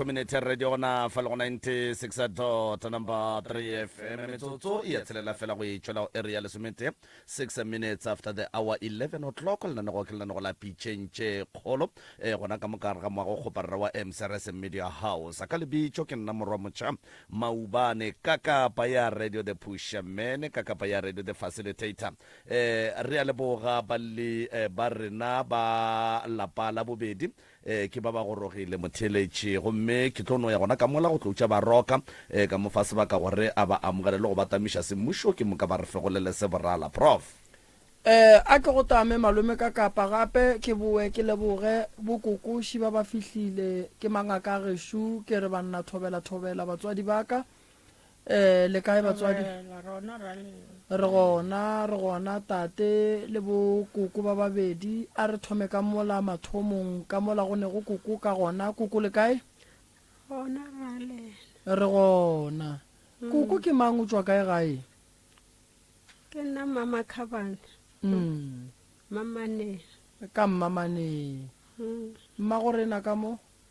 Two minutes ya radio gona fa le go 96 dot number 3 FM. Metsotso e ya tshelela fela go e tšwela go area ya lesometee. Six minutes after the hour 11 o'clock lenanego ke lenanego la pitšeng tše kgolo e gona ka mokare ga moago kgopa rra wa msrs media house ka lebitšo ke nna morwa motšha maubane ka kapa ya radio the pusher mene ka kapa ya radio the facilitator eh re a leboga balli eh, ba rena ba lapa la bobedi Ee, ke ba ba gorogile, motheeletši. Gomme ke tlo no ya gona ka mola go tlo utša baroka, ee, ka mo fa sebaka gore a ba amogele le go ba tamiša semmušo, ke moka ba re fegolele se borala. Prof. Ee, a ke go tame, malome, ka kapa gape ke bowe ke leboge bokokoši ba ba fihlile. Ke mangaka a gešo, ke re, bannathobelatho-bela, batswadi ba ka, Eh, le kae batswadi? Re gona, re gona, tate le bo koko ba babedi. A re thome ka mola mathomong, ka mola go ne go koko ka gona. Koko le kae? Re gona. Mm. Koko ke mang o tswa kae gae? Ke nna mama Khabane. Mm. Mamane. Ka mmamane. Mm. Mma go rena ka mo?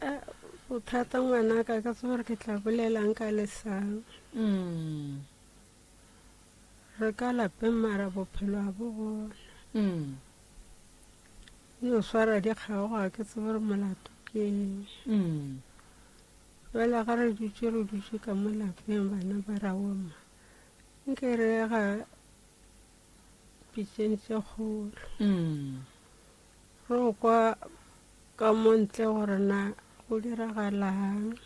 Eh, bothata ngwana ka ka tseba gore ke tla bolelang ka lesang Mm. re ka lapeng mara bophelo ga bo bona Mm. e o swara dikgago ga ke tsebe gore molato ke eng Mm. fela ga re dutse re dutse ka mo lapeng bana ba raoma nke re ga pitšeng tse kgolo Mm. Re go kwa ka mo ntle gore na go diragalang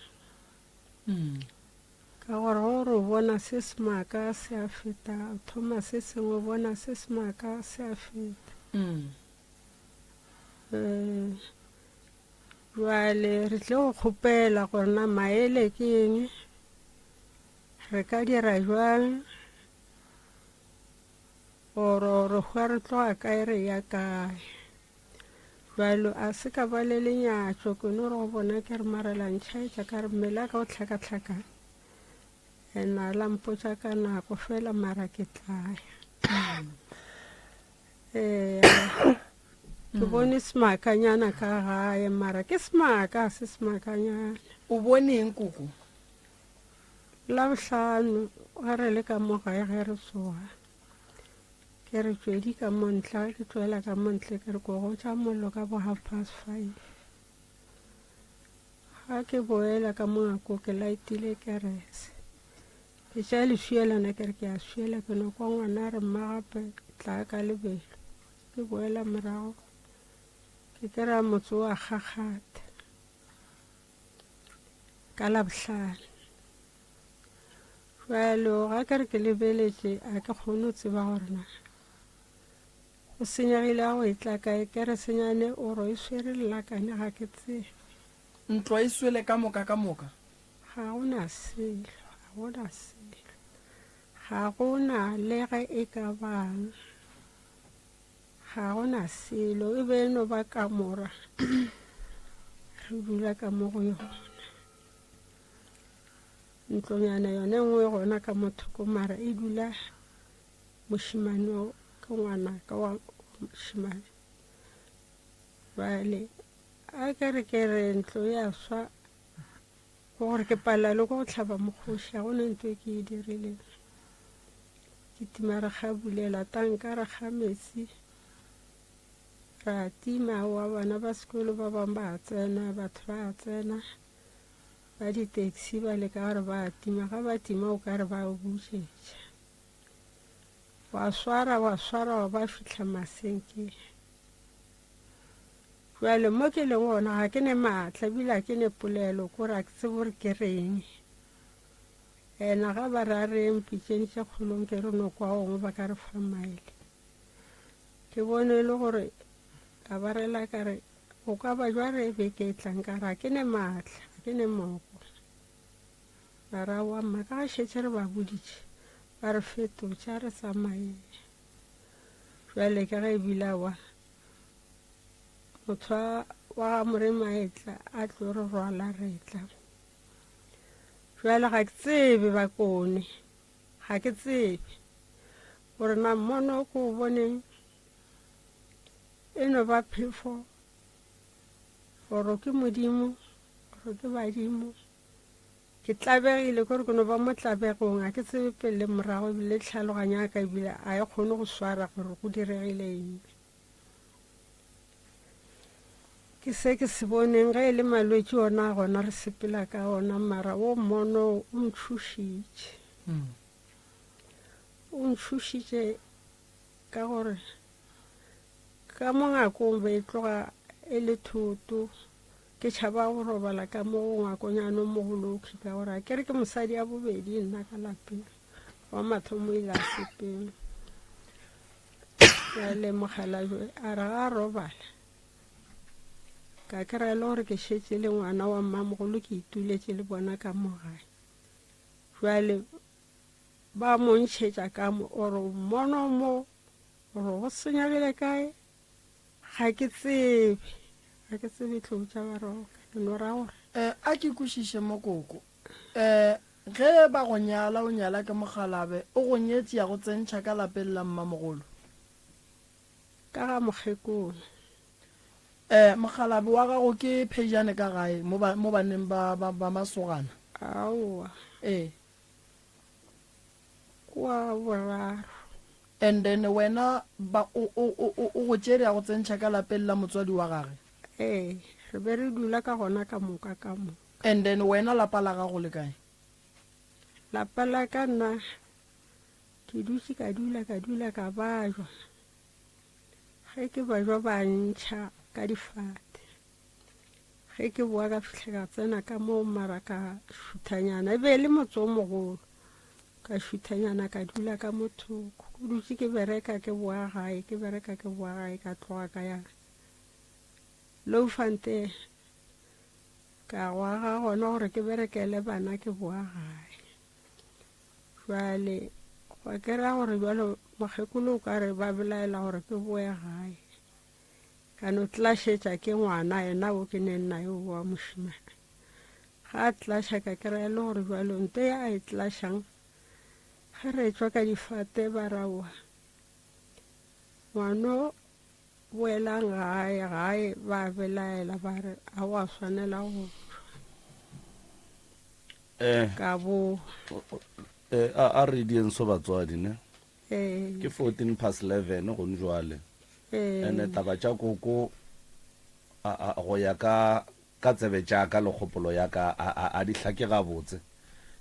ka gore go re o bona se semaka se a feta o thoma se sengwe o bona se semaka se a feta um jale re tle go kgopela gore na maele ke eng re ka dira jwang Oro re hwa re tloga kae re ya kae. Jwalo a se ka ba le lenyatšo ke no re go bona ke re marelantšhaetša ka re mmele a ka o tlhakatlhakane and a la mpotsa ka nako fela mara ke tlaya ee ke bone semakanyana ka gae mara ke semaka se semakanyana o boneng koko Labohlano ge re le ka mo gae ge re tsoga, ke re tšwedi ka mo ntla, ke tšwela ka mo ntle ke re ko go tša mollo ka bo half past five. Ga ke boela ka mo ngako ke laetile kerese. Ke tša leswielana ke re ke a swiela ke no kwa ngwana re mma gape tla ka lebelo. Ke boela morago ke kry-a motse wa kgakgatha. ka labohlano bjalo ga ka re ke lebeletše a ke kgone go tseba gore na go senyegile a go e tla kae ke re senyane o ro e swere lelakane ga ke tsebe ntlo e swele ka moka ka moka ga go na selo ga go na selo ga go na le ge e ka bang Ga go na selo, e be e no ba kamora re dula ka mo go yona. Ntlonyana yone nngwe gona ka mothoko mara e dula mošimane ke ngwana ka wa mošimane. Bale a ke re ke re ntlo ya swa Ke gore ke palela le go go tlhaba mokgoši, ga gona nto e ke e dirileng. Ke tima re ga bulela tanka, re ga metsi, ra tima wa bana ba sekolo ba bangwe ba tsena, batho ba tsena ba di-taxi ba leka gore ba tima, ga ba tima o ka re ba butšetša. Wa swara, wa swara, wa ba fihla maseke. Jwale mo ke leng gona ga ke ne maatla ebile ke ne polelo kore a ke tsebo gore ke reng. Ena ga ba re a reng pitšeng tše kgolong ke re no kwa gongwe ba ka re fa maele. Ke bone e le gore ka ba rela ka re go ka ba jwa re beke e tlang ka re ga ke ne maatla, ga ke ne moko. Ba re, Aowa mma, ka ge šetše re ba boditše, ba re fetotše, a re tsamaeng. Bjale ka ge e bile a bona motho wa ga Moremaetla a tlo re rwala retla. Bjale ga ke tsebe ba kone, ga ke tsebe gore na mmono o ko o boneng e no ba phefo gore ke modimo gore ke badimo ke tlabegile kore ke no ba mo tlabegong a ke tsebe pele le morago ebile tlhaloganyo ya ka ebile a e kgone go swara gore go diregile eng ke se ke se boneng ge e le malwetse ona gona re sepela ka ona mara o mono o ntšhošitše mm. o ntšhošitše ka gore Ka mo ngakong be e tloga e le thoto. Ke tšhaba go robala ka mo ngakonyane o mogolokgi ka gore a kere ke mosadi ya bobedi nna ka lapeng wa mathomo ile a sepeng. Jale mogalajwe a re ga a robala ka kry-a le gore ke šetse le ngwana wa mmamogolo ke ituletše le bona ka mo gae jale ba mo ntšhetša ka mo oro mono mo gore go senya bjale kae ga ke tsebe ga ke tsebe tlou tša baroka ke no ra gore um a ke kwešiše mokoko um ge ba go nyala o nyala ke mokgalabe o go nyetsi ya go tsentšha ka lapeng la mmamogolo ka ga mokgekolo um mokgalabe wa gago ke phejane ka gae mo banneng ba masogana aowa ee wa boraro. And then wena ba o o o o o go tšere ya go tsentšha ka lapeng la motswadi wa gage. Ee, re be re dula ka gona ka moka ka moka. And then wena lapa la gago le kae? Lapa la ka nna ke dutše ka dula ka dula ka bajwa ge ke bajwa ba ntšha ka difate. ge ke boa ka fitlha ka tsena ka moo mara ka šuthanyana e be e le motse o mogolo ka šuthanyana ka dula ka mothoko o dutse ke bereka ke boa gae ke bereka ke boa gae ka tloga ka ya low fante ka gwaga gona gore ke berekele bana ke boa gae jale gwa kera gore jalo mokgekolo o ka re ba belaela gore ke boe gae Ka no tlašetša ke ngwana yena o ke neng naye o wa mošimane. Ga a tlaša ka kry-a e le gore jalo nto ya a e tlašang ge re tswa ka difate ba raoa ngwano boelang gae gae ba belaela ba re a wa swanela go eh. ka bo eh, a, a re dienso batswadi ne Ke fourteen past eleven gone jwale. Ene taba tša koko go ya ka ka tsebe tša ka le kgopolo ya ka a di hlake gabotse.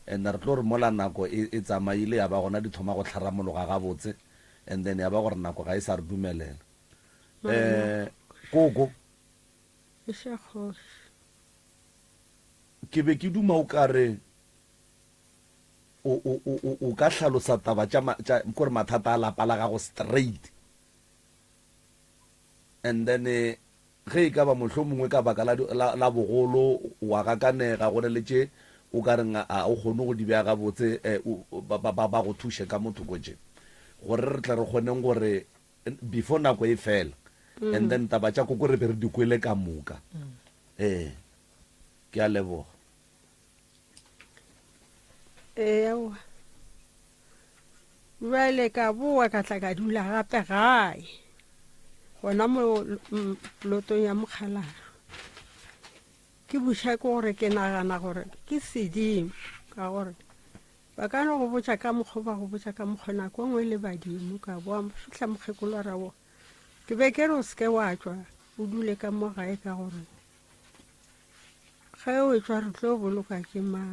Ene re tlo re mola nako e tsamaile ya ba gona di thoma go tlharamologa gabotse and then ya ba gore nako ga e sa re dumelela. Koko, ke be ke duma o kare o, o, o, o, o ka hlalosa taba tša, tša, kore mathata a lapa la gago straight. And then ge e ka ba mohlomongwe ka baka la, la, la bogolo wa gakanega, go na le tše o ka reng a o kgone go di bea gabotse, um, ba, ba, ba, ba go thuše ka mo thoko tše, gore re tle re kgoneng gore before nako e fela. And then taba tša koko re be re di kwele ka moka. Ee, ke a leboga. ewa bjale ka boa ka tla ka dula gape gae gona mo lotong ya mokgalaro ke buša ke gore ke nagana gore ke sedimo ka gore ba ka no go botša ka mokgwa ba go botša ka mokgwa nako nngwe le badimo ka boa fitlha mokgekolo ra boa ke be ke re o seke wa tswa o dule ka mo gae ka gore Ge o etswa re tlo boloka ke ma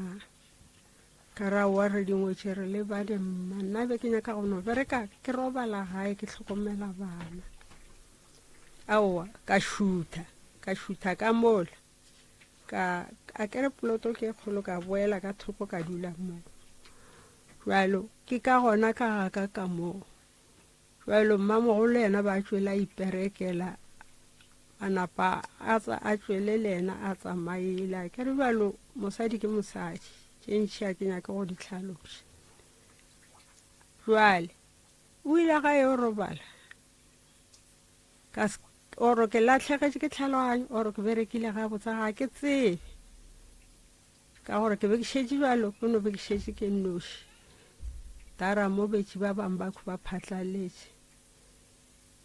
ka ra wa re dingwe tše re le bade mma nna be ke nyaka go no bereka ke robala gae ke tlhokomela bana aowa ka šutha ka šutha ka mola ka a kere poloto ke e kgolo ka boela ka thoko ka dula moo jalo ke ka gona ka gaka ka moo Bjalo mmamogolo le yena ba tšwela a iperekela, a napa a tsa a tšwele le yena a tsamaela. Ke re bjalo mosadi ke mosadi, tše ntšhi a ke nyake go di tlhaloša. Bjale o ile ga yo robala oro ke latlhegetše ke tlhaloganyo oro ke berekile ga botsa ga ke tsebe Ka gore ke be ke šetše bjalo, ke no be ke šetše ke nnoši. Tara mo betše ba bang ba ba phatlaletše.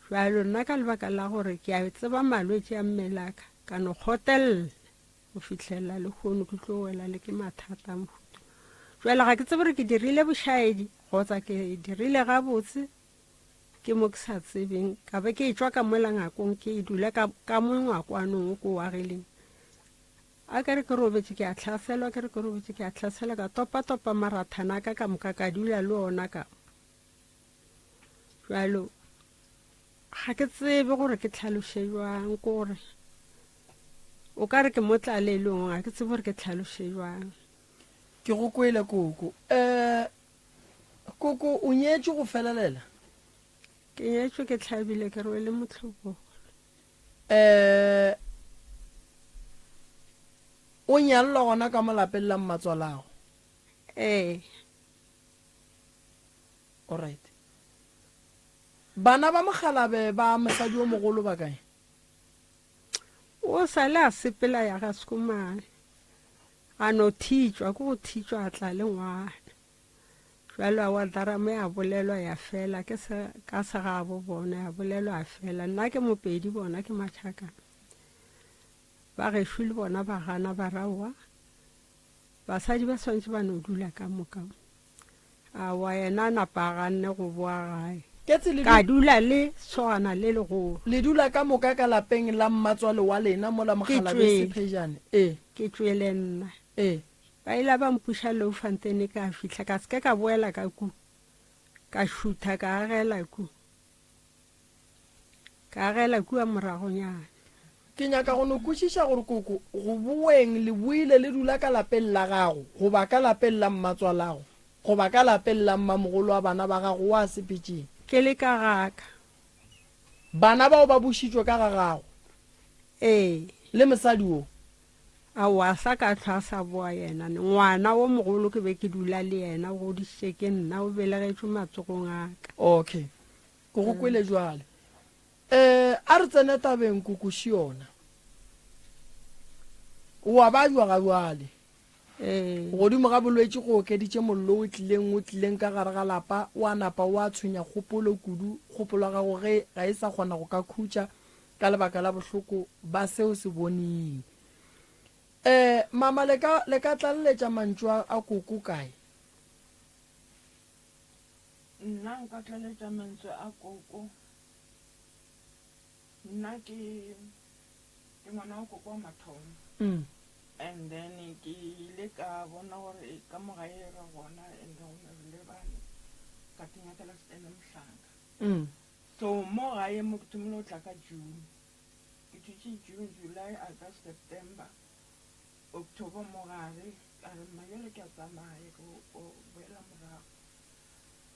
Bjalo nna ka lebaka la gore ke a tseba malwetše a mmelaka, ka no kgotelela go fihlelela le kgono ke tlo wela le ke mathata a mohuto. Bjale ga ke tsebe gore ke dirile bošaedi kgotsa ke dirile gabotse ke mo ke sa tsebeng ka be ke e tšwa ka mola ngakong ke e dula ka, ka mo ngwakwanong o ko wa geleng A ke re ke robetše ke a hlaselwa, ke re ke robetše ke a hlaselwa, ka topatopa marathana a ka ka moka ka dula le ona ka jalo ga ke tsebe gore ke tlhaloše jwang ke gore o ka re ke mo tlalelong ga ke tsebe gore ke tlhaloše jwang ke go kwele koko um koko o nyetše go felelela ke nyetšwe ke tlhabile ke rwele motlhogolo Ee. O nyallwa gona ka mo lapeng la mmatswalago? Ee. Alright. Bana ba mokgalabe ba mosadi yo mogolo ba kae? O sa le a sepela ya ga Schoeman. A no thitšwa, ke go thitšwa a tla le ngwana. Bjalo Awadarama ya bolelwa ya fela, ke se ka sa gabo bona, ya bolelwa ya fela. Nna ke Mopedi, bona ke Machakana. Ba gešo le bona ba gana ba ra wa, basadi ba swantše ba no dula ka moka. Awa yena a napa a ganne go boa gae. Ketse le, Ka dula le sogana le legolo. le dula ka moka ka lapeng la mmatswale wa lena mola Mokgalabese tšwele. Phejane. Ee, Ke tšwele nna. ee. Ba ila ba mpuša Louwfantene ka fihla ka se ke ka boela ka ku. Ka šutha ka agela ku. Ka agela kua moragonyana. Ke nyaka go no kwešiša gore koko go boeng le boile le dula ka lapeng la gago goba ka lapeng la mmatswalago goba ka lapeng la mmamogolo wa bana ba gago wa sepetšeng. Ke le ka gaka. Bana bao ba bušitšwe ka ga gago. Ee. Le mosadi wo? Aowa, a sa ka hlwa a sa boa yena. Ngwana wo mogolo ke be ke dula le yena, o godišitše ke nna, o belegetšwe matsogong a ka. Okay, ke go kwele bjale. Eh, a re tsene tabeng, Koko Shiona. O a ba jwa ga bjale. Eh. Godimo ga bolwetši go okeditše mollo o tlileng, o tlileng ka gare ga lapa, o a napa o a tshwenya kgopolo kudu, kgopolo ya gago ge ga e sa kgona go ka khutša, ka lebaka la bohloko ba se o se boning. Eh, mama, le ka, le ka tlaleletša mantšu a, a koko kae? Nna nka tlaleletša mantswe a koko. Nna ke, ke ngwana wa koko wa mathomo. Mm. And then ke ile ka bona gore ka mo gae ra gona and then go ne re le bane, ka tinyakela Stan Mohlanga. Mm. So mo gae mo ke thomile go tla ka June. Ke thutše June, July, August, September, October mo gare. Ka re, Mma bjale ke a tsamaya ke go boela morago.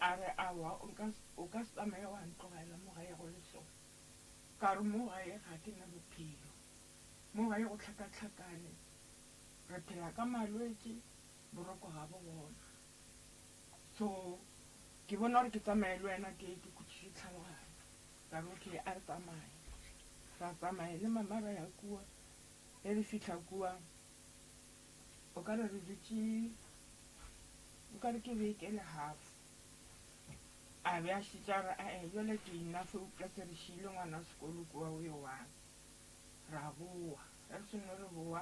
A re, Aowa, o nka se, o ka se tsamaye wa ntlogela mo gae go le so. Ka re, Mo gae ga ke na bophelo. Mo gae go hlakahlakane. Re phela ka malwetše, boroko ga bo gona. So ke bona gore ke tsamaye le wena ke ke khutšiše tlhaloganya. Ka re okay a re tsamaye. Ra tsamaya le mama ra ya kua. Ge re fihla kua o ka re re dutše o ka re ke beke le half. A be a šetše a re ae bjale ke enough eupša se re šiile ngwana sekolo kua o yo one. Ra bowa ge re seno re bowa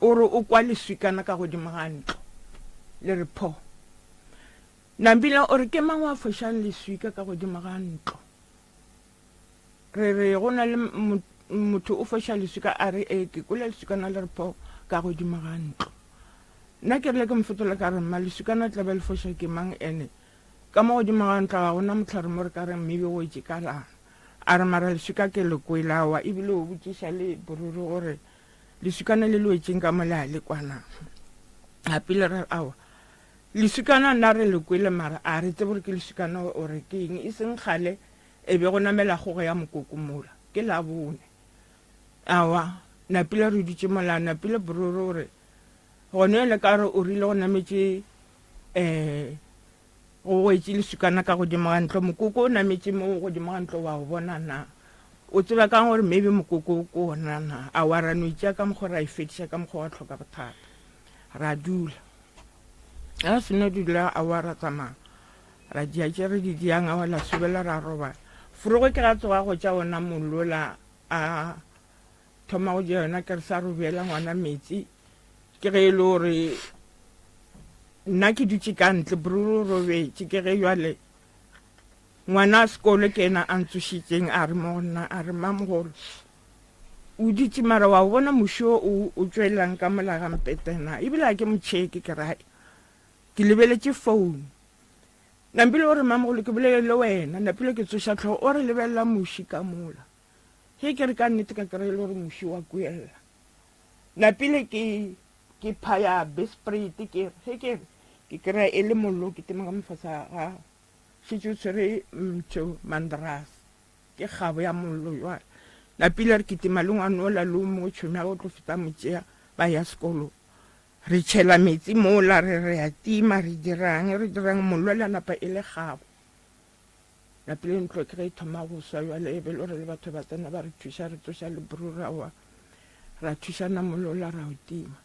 o re o kwa leswikana ka godimo ga ntlo le re pho. Nabila o re ke mang wa fošang leswika ka godimo ga ntlo? Re re go na le motho o foša leswika a re ee ke kwele leswikana le re pho ka godimo ga ntlo. Nna ke rile ke mfetola ka re mma leswikana tla be le foša ke mang ene ka mo godimo ga ntlo ga gona motlhare mo re ka reng maybe o wetše ka lana. A re mara leswika ke le kwele awa ebile o botšiša le boruri gore Leswikana le loetšeng ka mo le a le kwana. Gape le re awa leswikana nna re le kwele mara a re tsebe gore ke leswikana ore ke eng e seng gale e be go namela kgogo ya mokoko mola ke la bone awa napile re dutse mola napile bororo gore gone yone ka re o rile go nametse um O goetše leswikana ka godimo ga ntlo. Mokoko o nametše mo godimo ga ntlo, wa o bona na? O tseba kang gore maybe mokoko o ko ona na? A wa ra no itšea ka mokgwa ra e fediša ka mokgwa wa tlhoka bothata. Ra dula. Ga se no dula a wa ra tsamaya. Ra dia tše re di diang a wa la sobela ra robala. Forogo ke ga tsoga go tša ona mollo la a thoma go ja yona ke re sa robjela ngwana metsi ke ge e le gore nna ke dutše ka ntle bruru robetše ke ge jale ngwana a sekolo ke ena a ntsošitseng a re mo go nna a re mmamogolo o dutše mara wa bona mošo o o tšwelelang ka molagampetena ebile a ke motšheke ke rae ke lebeletše founu nampile o re mmamogolo ke bolele le wena napile ke tsoša tlhogo o re lebelela moši ka mola Ge ke re ka nnete ka kry-a e le gore muši wa kuelela, napile ke ke phaya bespreite ke re ge ke re ke kry-a e le mollo o ketema ka mofasa ga gago, šetše o tshwere mtho mandrase ke kgabo ya mollo jwale. Napile re kitima le ngwane ola le o mongwe tšhomi ya ka o tlo feta mo tšea ba ya sekolong. Re tšhela metsi mola re re ya tima re dirang re dirang mollo le a napa e le kgabo. Lapi le ntlo ke ge e thoma go swa jwale e be lo re le batho ba tsena ba re thuša re tsoša le bru ra wa ra thušana molola ra o tima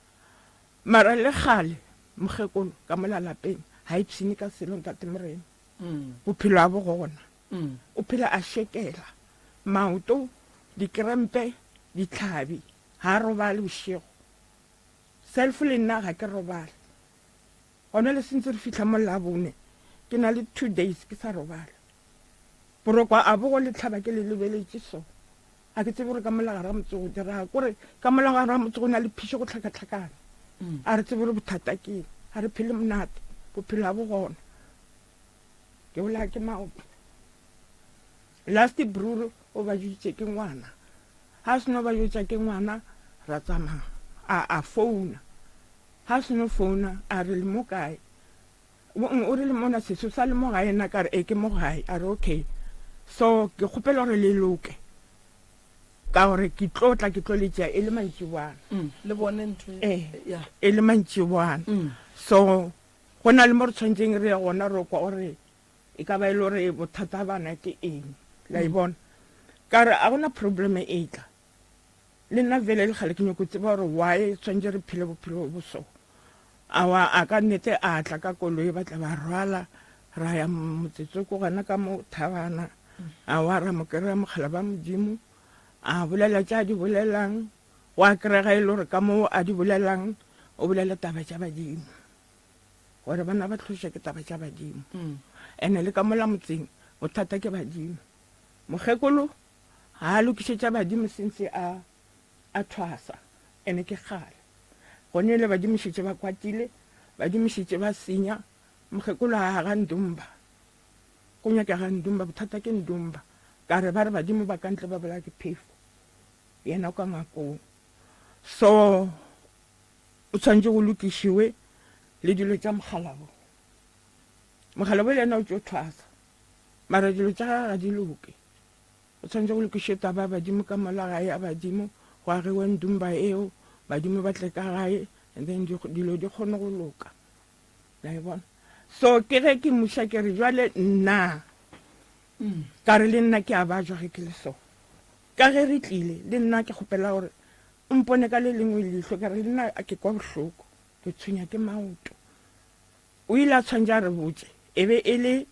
mara le kgale mokgekolo ka mola lapeng ga e pshine ka selo ntate morena mm. bophelo a bo gona mm. o phela a šekela maoto dikrempe ditlhabi ga a robale bošego self le nna ga ke robale Gona le sentse re fihla mo Labone, ke na le two days ke sa robala. Borokwa a bo go letlhaba ke le lebeletše so. A ke tsebe gore ka mola gare ga motse go diraga. Kore ka mola gare ga motse go na le phišo go tlhakatlhakana. A re tsebe gore bothata ke eng. Ga re phele monate, bophelo ga bo gona. Ke bolaya ke maoto. Last bruru o bajutše ke ngwana ha seno bajutša ke ngwana ra tsamaya a a founa ha seno founa a re le mo kae o re le mona seso sa le mo gae na ka re e ke mo gae a re okay so ke kgopela gore le loke ka gore ke tlo tla ke tlo le tšea e le mantšibwana le bone ntho e e le mantšibwana so go na le mo re tshwanetseng re ye gona ro kwa gore e ka ba e le gore bothata bana ke eng la e bona ka re a gona problem e tla le nna vele le gale ke nyoko tseba gore why tshwanetse re phele bophelo bo so awa a ka nnete a tla ka koloi ba tla ba rwala ra ya motsetse ko gana ka mo thabana a wa ra mo kry-a mogala ba modimo a bolela tša di bolelang wa kry-ga e le gore ka moo a di bolelang o bolela taba tša badimo gore bana ba tlhošwa ke taba tša badimo ene le ka mola motseng bothata ke badimo mokgekolo ga a lokišetša badimo sentse a a thwasa ene ke kgale gone le badimo šetše ba kwatile badimo šetše ba senya mokgekolo a ga ndumba go nyaka ga ndumba bothata ke ndumba ka re ba re badimo ba kantle ba bola ke phefo yena kwa ngakong so O tshwanetse go lokišiwe le dilo tša mogalabo. Mogalabo le ena o tšo thwasa. Mara dilo tša gage ga di loke. O tshwanetse go lokiše taba ya badimo ka mola gae ya badimo go agewe ndumba eo badimo ba tle ka gae and then dilo di kgone go loka. La e bona? So ke ge ke muša ke re jwale nna mm. ka re le nna ke a bajwa ge ke le so. Ka ge re tlile le nna ke kgopela gore O mpone ka le lengwe leihlo, ka re, Nna ke kwa bohloko, ke tshwenya ke maoto. O ile a tshwantša a re botše, e be e le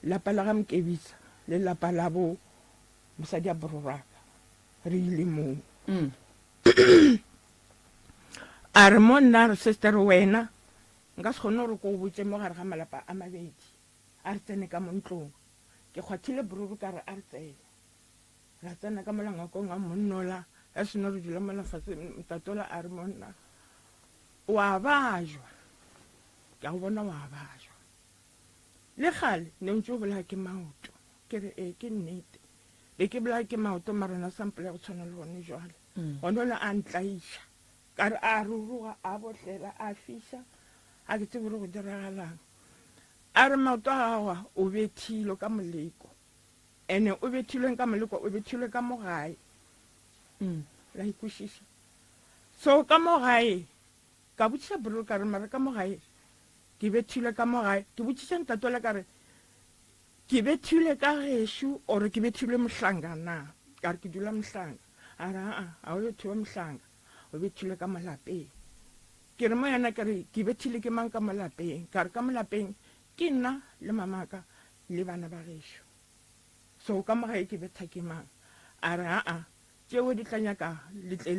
lapa la ga Mkebisa le lapa la bo mosadi a Bororaka. Re ile moo. A re, Mo nna, a re, Sestere, wena, nka se kgone gore ke go botše mo gare ga malapa a mabedi. A re tsene ka mo ntlong. Ke kgwathile bruru ka re, A re tsene. Ra tsena ka mola ngakong a mmonnola, ge seno re dula mola fase, Mtatola a re, Monna, o a bajwa. Ke a go bona o a bajwa. Le kgale ne o ntse o bolaya ke maoto. Ke re, Ee, ke nnete. Be ke bolaya ke maoto, mara ona sa mpolaya go tshwana le gone jwale. Gona o ne a ntlaiša. Ka re a ruruga, a botlela, a fiša, ga ke tsebe gore go diragalang. A re, Maoto a gago a, o bethilwe ka moleko. Ene o bethilweng ka moleko o bethilwe ka mo gae. Mm, la ikwešiša. So, ka mo gae, ka botšiša Bril ka re, mara ka mo gae, ke bethilwe ka mo gae. Ke botšiša ntatole ka re, ke bethilwe ka gešo, or ke bethilwe mohlanga na? Ka re, ke dula mohlanga. A re, aa, ga o yo thewa mohlanga. O bethilwe ka mo lapeng. Ke re mo yena, ke re, ke bethilwe ke mang ka mo lapeng? Ka re, ka mo lapeng, Ke nna le mamaka le bana ba gešo. So ka mo gae ke betha ke mang? A re, Aa, tšeo di tla nyaka le tle le.